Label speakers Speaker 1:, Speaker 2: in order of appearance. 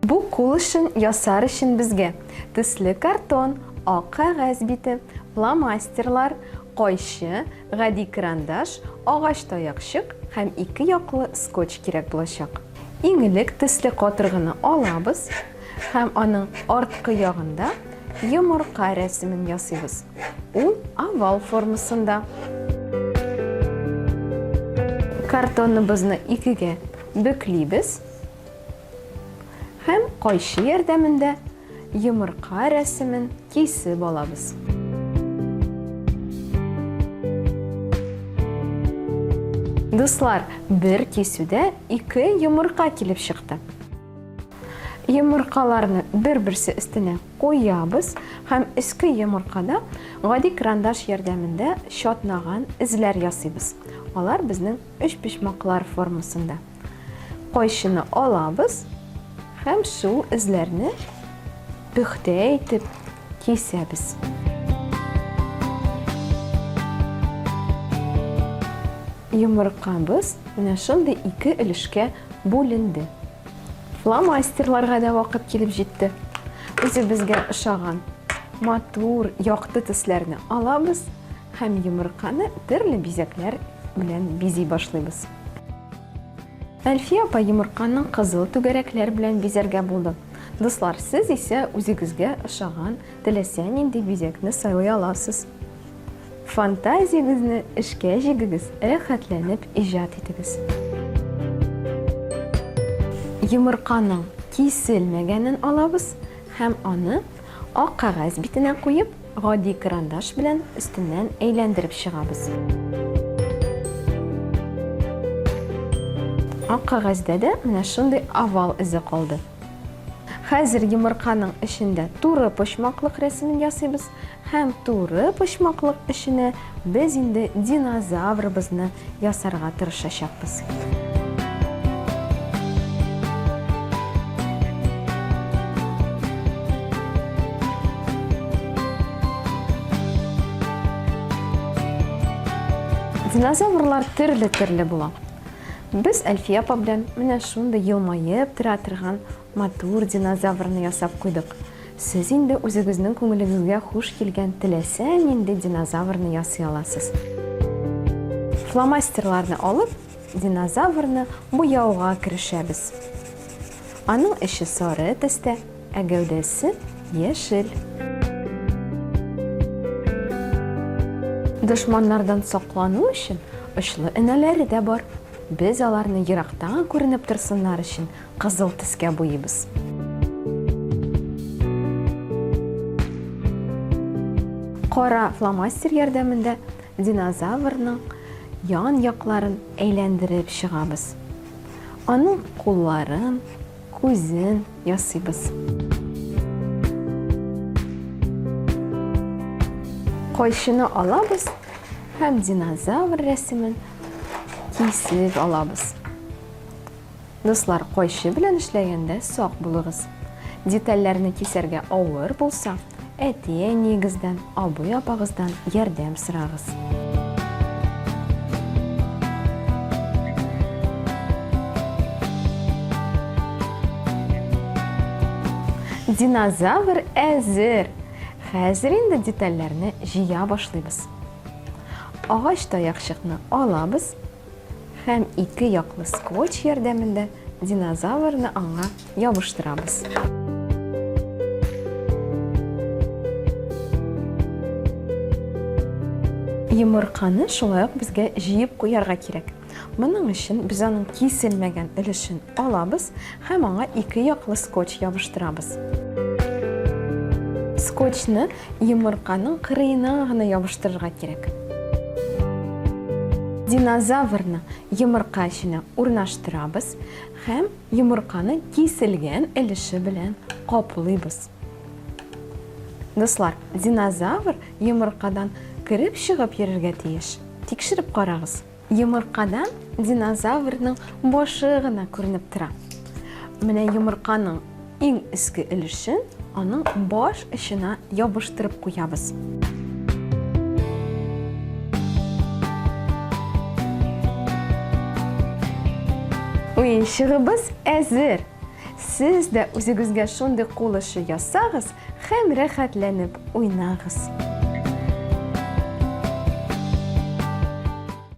Speaker 1: Бу кул эшен ясар өчен безгә төсле картон, ак кәгазь бите, фломастерлар, кайчы, гади карандаш, агач таякчык һәм ике яклы скотч кирәк булачак. Иң элек төсле катыргыны алабыз һәм аның арткы ягында йомырка рәсемен ясыйбыз. Ул овал формасында. Картоныбызны икегә бөклибез һәм кайчы ярдәмендә йомырка рәсемен кисеп алабыз. Дуслар, бер кисүдә ике йомырка килеп чыкты. Йомыркаларны бер-берсе өстенә Куябыз һәм өске йомыркада гади крандаш ярдәмендә чатнаган эзләр ясыйбыз. Алар безнең өчпочмаклар формасында. Кайчыны алабыз һәм шул эзләрне пөхтә итеп кисәбез. Йомыркабыз менә шундый ике өлешкә бүленде. Фломастерларга да вакыт килеп җитте. Үзебезгә ошаган матур, якты төсләрне алабыз һәм йомырканы төрле бизәкләр белән бизи башлыйбыз. Әлфия апа йомырканың кызыл түгәрәкләр белән бизәргә булды. Дуслар, сез исә үзегезгә ошаган теләсә нинди бизәкне сайлый аласыз. Фантазиягезне эшкә җигегез, рәхәтләнеп иҗат итегез. Йомырканың киселмәгәнен алабыз һәм аны ак кәгазь битенә куеп, гади карандаш белән өстеннән әйләндереп чыгабыз. Ак кәгазьдә дә менә шундый овал эзе калды. Хәзер йомырканың эчендә туры почмаклык рәсемен ясыйбыз. Һәм туры почмаклык эченә без инде динозаврыбызны ясарга тырышачакбыз. Динозаврлар төрле-төрле була. Без Әлфия апа белән менә шундый елмаеп тора торган Матур динозаврны ясап куйдык. Сез инде үзегезнең күңелегезгә хуш килгән теләсә нинди динозаврны ясый аласыз. Фломастерларны алып, динозаврны буяуга керешәбез. Аның эче сары төстә, ә гәүдәсе яшел. Дошманнардан саклану өчен очлы энәләре дә бар. Без аларны ерактан күренеп торсыннар өчен Кызыл төскә буйыйбыз. Кара фломастер ярдәмендә динозаврның ян якларын әйләндереп чыгабыз. Аның кулларын, күзен ясыйбыз. Кайшыны алабыз һәм динозавр рәсемен кисеп алабыз. Дуслар, кайчы белән эшләгәндә сак булыгыз. Детальләрне кисәргә авыр булса, әти-әниегездән, абый-апагыздан ярдәм сорагыз. Динозавр әзер! Хәзер инде детальләрне җыя башлыйбыз. Агач таякчыкны алабыз. Һәм ике яклы скотч ярдәмендә динозаврны аңа ябыштырабыз. Йомырканы шулай ук безгә җыеп куярга кирәк. Моның өчен без аның киселмәгән өлешен алабыз Һәм аңа ике яклы скотч ябыштырабыз. Скотчны йомырканың кырыена гына ябыштырырга кирәк. Динозаврны йомырка эченә урнаштырабыз һәм йомырканы киселгән өлеше белән каплыйбыз. Дуслар, динозавр йомыркадан кереп-чыгып йөрергә тиеш. Тикшереп карагыз. Йомыркадан динозаврның башы гына күренеп тора. Менә йомырканың иң өске өлешен аның баш очына ябыштырып куябыз. Уенчыгыбыз әзер! Сез дә үзегезгә шундый кул эше ясагыз һәм рәхәтләнеп уйнагыз!